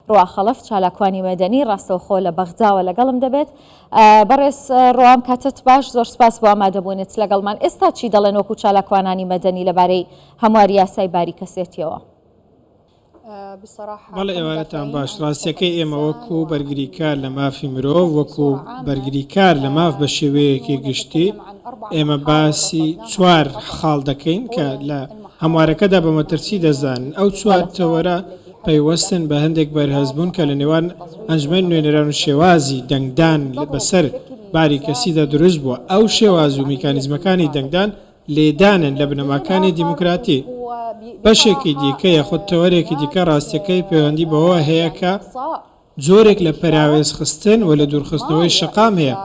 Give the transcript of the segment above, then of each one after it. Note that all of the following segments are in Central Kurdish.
ڕوا خەڵەف چالاکوانی مەدەنی ڕاستەوخۆ لە بەغداوە لەگەڵم دەبێت. بەڕێز ڕوام کاتت باش زۆر سپاس بۆ ئامادەبوونت لەگەڵمان. ئێستا چی دەڵێن وەکو چالاکوانانی مەدەنی لەبارەی هەمواری یاسای باری کەسێتیەوە؟ بەڵێ ئێوارەتان باش ڕاستیەکەی ئێمە وەکو بەرگریکار لە مافی مرۆڤ وەکو بەرگریکار لە ماف بە شێوەیەکی گشتی ئێمە باسی چوار خاڵ دەکەین کە لە هەموارەکەدا بە مەترسی دەزانن ئەو چوار تەوەرە پەیوەستن بە هەندێک بەرهەستبوون کە لە نێوان ئەنجومەنی نوێنەران و شێوازی دەنگدان بەسەر باری کەسیدا دروست بووە، ئەو شێواز و میکانیزمەکانی دەنگدان لێدانن لە بنەماکانی دیموکراتی، بەشێکی دیکە یاخود تەوەرێکی دیکە ڕاستییەکەی پەیوەندی بەوەوە هەیە کە. جۆرێک لە پەراوێزخستن و لەدوورخستنەوەی شەقام هەیە،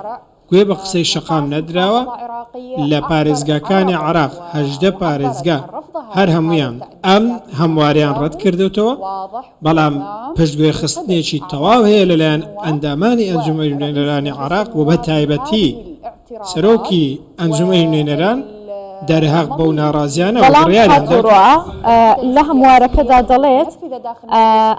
گوێ بە قسەی شەقام نەدراوە، لە پارێزگاکانی عێراق هەژدە پارێزگا هەر هەموویان ئەم هەمواریان ڕەتکردۆتەوە، بەڵام پشتگوێخستنێکی تەواو هەیە لەلایەن ئەندامانی ئەنجومەنی نوێنەرانی عێراق و بەتایبەتی. سەرۆکی ئەنجومەنی نوێنەران دەرهەق بەو ناڕازیانە و بڕیاریان دا. بەڵام لە هەموارەکەدا دەڵێت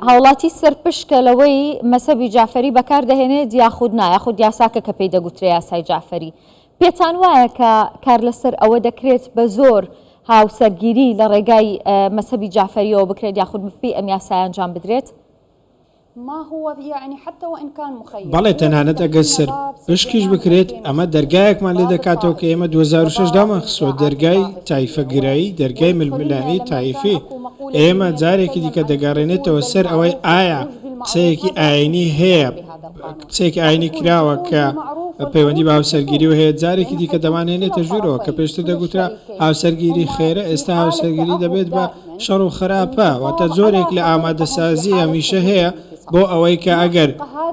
هاوڵاتی سەرپشکە لەوەی مەسەبی جافەری بەکار دەهێنێت یاخود نا یاخود یاساکە کە پێی دەگوترێ یاسای جافەری پێتان وایە کە کار لەسەر ئەوە دەکرێت بە زۆر هاوسەرگیری لە ڕێگای مەسەبی جافەریەوە بکرێت یاخود بەپێی ئەم یاسایە ئەنجام بدرێت؟ بەڵێ تەنانەت ئەگەر سەرپشکیش بکرێت، ئەمە دەرگایەکمان لێ دەکاتەوە کە ئێمە دوو هەزار و شەش دامانخستووە، دەرگای تایفەگرایی، دەرگای ململانێی تایفی ئێمە جارێکی دیکە دەگەڕێنێتەوە سەر ئەوەی ئایا قسەیەکی ئایینی هەیە، قسەیەکی ئایینی کراوە کە پەیوەندی بە هاوسەرگیریەوە هەیە، جارێکی دیکە دەمانهێنێتە ژوورەوە کە پێشتر دەگوترا هاوسەرگیری خێرە، ئێستا هاوسەرگیری دەبێت بە. شەڕ و خراپە، واتە جۆرێک لە ئامادەسازی هەمیشە هەیە بۆ ئەوەی کە ئەگەر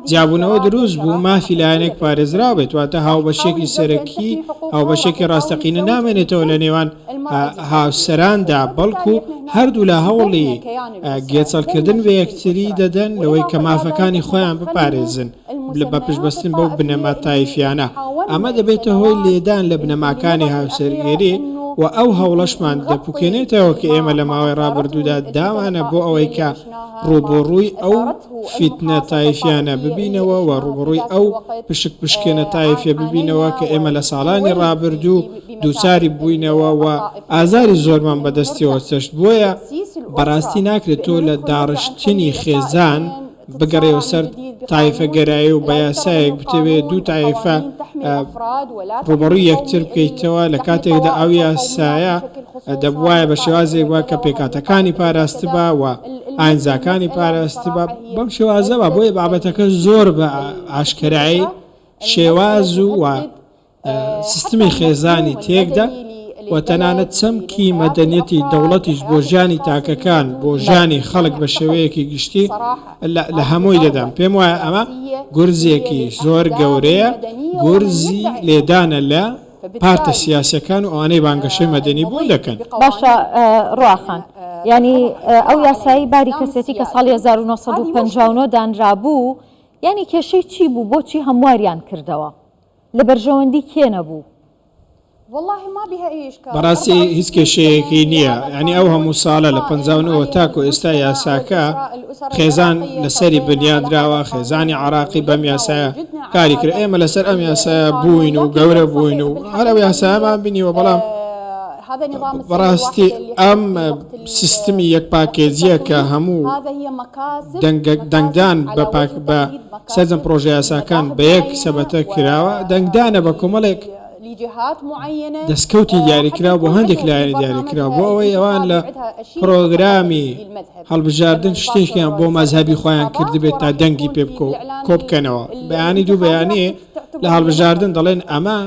جیابوونەوە دروست بوو مافی لایەنێک پارێزراو بێت، واتە هاوبەشێکی سەرەکی، هاوبەشێکی ڕاستەقینە نامێنێتەوە لە نێوان هاوسەراندا، بەڵکو هەردوولا هەوڵی گێچەڵکردن بە یەکتری دەدەن لەوەی کە مافەکانی خۆیان بپارێزن. بە پشتبەستن بەو بنەما تایفیانە، ئەمە دەبێتە هۆی لێدان لە بنەماکانی هاوسەرگێری و ئەو هەوڵەشمان دەپوکێنێتەوە کە ئێمە لە ماوەی ڕابردوودا داوانە بۆ ئەوەی کە ڕووبەڕووی ئەو فیتنە تایفیانە ببینەوە و ڕووبەڕووی ئەو پشکپشکێنە تایفیە ببینەوە کە ئێمە لە ساڵانی ڕابردوو دووچاری بووینەوە و ئازاری زۆرمان بەدەستیەوە چەشت. بۆیە بەڕاستی ناکرێت تۆ لە داڕشتنی خێزان، بگەڕێوە سەر تایفە گەرایی و بەیاسایەک بتەوێت دوو تایفە ڕوبەڕوی یەکتر بکەیتەوە لە کاتێکدا ئەو یاسایە دەبواە بە شێوازێک وە کە پێکاتەکانی پاراستبا و ئاینزاکانی پاراستبا بەم شێوازەوە بۆیە بابەتەکە زۆر بە ئاشکرایی شێواز و سیستمی خێزانی تێکدا و تەنانەت چەمکی مەدەنیەتی دەوڵەتیش بۆ ژیانی تاکەکان بۆ ژیانی خەڵک بە شێوەیەکی گشتی لە هەمووی دەدەم پێم وایە ئەمە گورزێکی زۆر گەورەیە گورزی لێدانە لە پارتە سیاسەکان و ئەوانەی بانگەشەی مەدەنی بۆ دەکەن باشە ڕواخان ینی ئەو یاسایی باری کەسێتی کە ساڵی 1950 دانرابوو ینی کێشەی چی بوو بۆچی هەمواریان کردەوە لە بەرژەوەندی کێ نەبوو؟ بەڕاستی هیچ کێشەیەکی نییە یانی ئەو هەموو ساڵە لە پەنجا و نۆوە تاکو ئێستا یاساکە خێزان لەسەری بنیادراوە خێزانی عراقی بەم یاسایە کاری کرد ئێمە لەسەر ئەم یاسایە بووین و گەورە بووین و هەر ئەو یاسایەمان بینیوە بەڵام بەڕاستی ئەم سیستمی یەک پاکێجیە کە هەموو دەنگدان بە پاک بە سەرجەم پڕۆژەیاساکان بە یەک سەبەتە کراوە، دەنگدانە بە کۆمەڵێک دەستکەوتی دیاریکراو بۆ هەندێک لایەنی دیاریکراو بۆ ئەوەی ئەوان لە پڕۆگرامی هەڵبژاردن شتێکیان بۆ مەزهبی خۆیان کردبێت تا دەنگی پێ بکۆ کۆبکەنەوە بەیانی دوو بەیانێ لە هەڵبژاردن دەڵێن ئەمە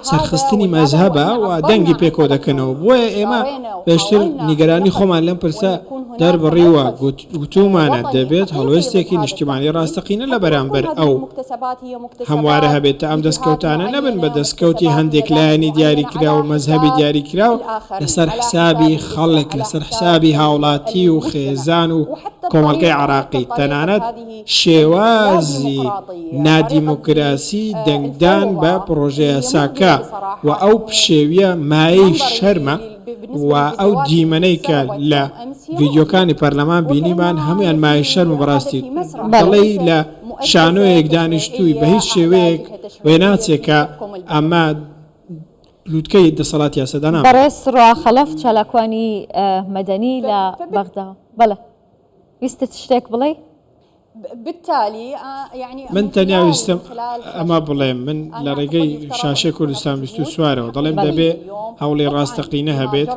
سەرخستنی مەزهبە و دەنگی پێکۆ دەکەنەوە بۆیە ئێمە پێشتر نیگەرانی خۆمان لەم پرسە دەربڕیوە گوت گوتوومانە دەبێت هەڵوێستێکی نیشتیمانی ڕاستەقینە لە بەرامبەر ئەو هەموارە هەبێت تا ئەم دەستکەوتانە نەبن بە دەستکەوتی هەندێک لایەنی دیاریکراو و مەزهەبی دیاریکراو لەسەر حسابی خەڵک، لەسەر حسابی هاوڵاتی و خێزان و کۆمەڵگەی عێراقی، تەنانەت شێوازی نادیموکراسی دەنگدان بە پڕۆژەیاساکە و ئەو پشێوییە مایەی شەرمە. و ئەو دیمەنەی کە لە ڤیدیۆکانی پەرلەمان بینیمان هەموویان مایەی شەرمە بەڕاستی دەڵێی لە شانۆیەک دانیشتووی بە هیچ شێوەیەک وێناچێ کە ئەمە لووتکەی دەسەڵات یاسەدانان بەڕێز سڕا خەڵەف چالاکوانی مەدەنی لە بەغدا بەڵێ ویستت شتێک بڵێی؟ من تەنیا ویستم ئەمە بڵێم، من لە ڕێگەی شاشەی کوردستان بیست و چوارەوە دەڵێم دەبێ هەوڵی ڕاستەقینە هەبێت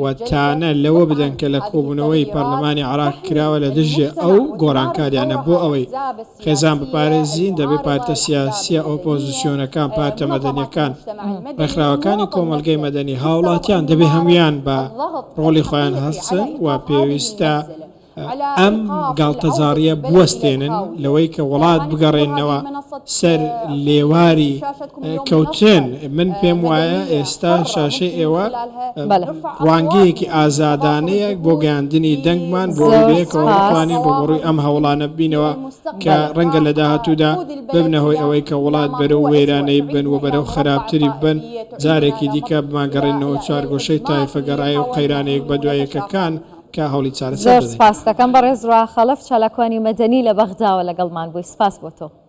و تانە لەوە بدەن کە لە کۆبوونەوەی پەرلەمانی عێراق کراوە لە دژی ئەو گۆڕانکارییانە بۆ ئەوەی خێزان بپارێزین دەبێ پارتە سیاسییە ئۆپۆزسیۆنەکان، پارتە مەدەنییەکان، ڕێکخراوەکانی کۆمەڵگەی مەدەنی، هاوڵاتیان دەبێ هەموویان بە ڕۆڵی خۆیان هەستن و پێویستە ئەم گاڵتەجاڕییە بوەستێنن لەوەی کە وڵات بگەڕێننەوە سەر لێواری کەوتن، من پێم وایە ئێستا شاشەی ئێوە ڕوانگەیەکی ئازادانەیە بۆ گەیاندنی دەنگمان بۆ ئەوەی بەیەکەوە بتوانین ڕووبەڕووی ئەم هەوڵانە ببینەوە کە ڕەنگە لە داهاتوودا ببنە هۆی ئەوەی کە وڵات بەرەو وێرانەیی ببن و بەرەو خەراپتری ببن، جارێکی دیکە بمانگەڕێننەوە چوارگۆشەی تایفەگەرایی و قەیرانە یەکبەدوای یەکەکان. کا هەوڵی چارەسەر دەدەین. زۆر سپاستەکەم بەڕێز ڕاخەڵەف چالاکوانی مەدەنی لە بەغداوە لەگەڵمان بووی سپاس بۆ تۆ.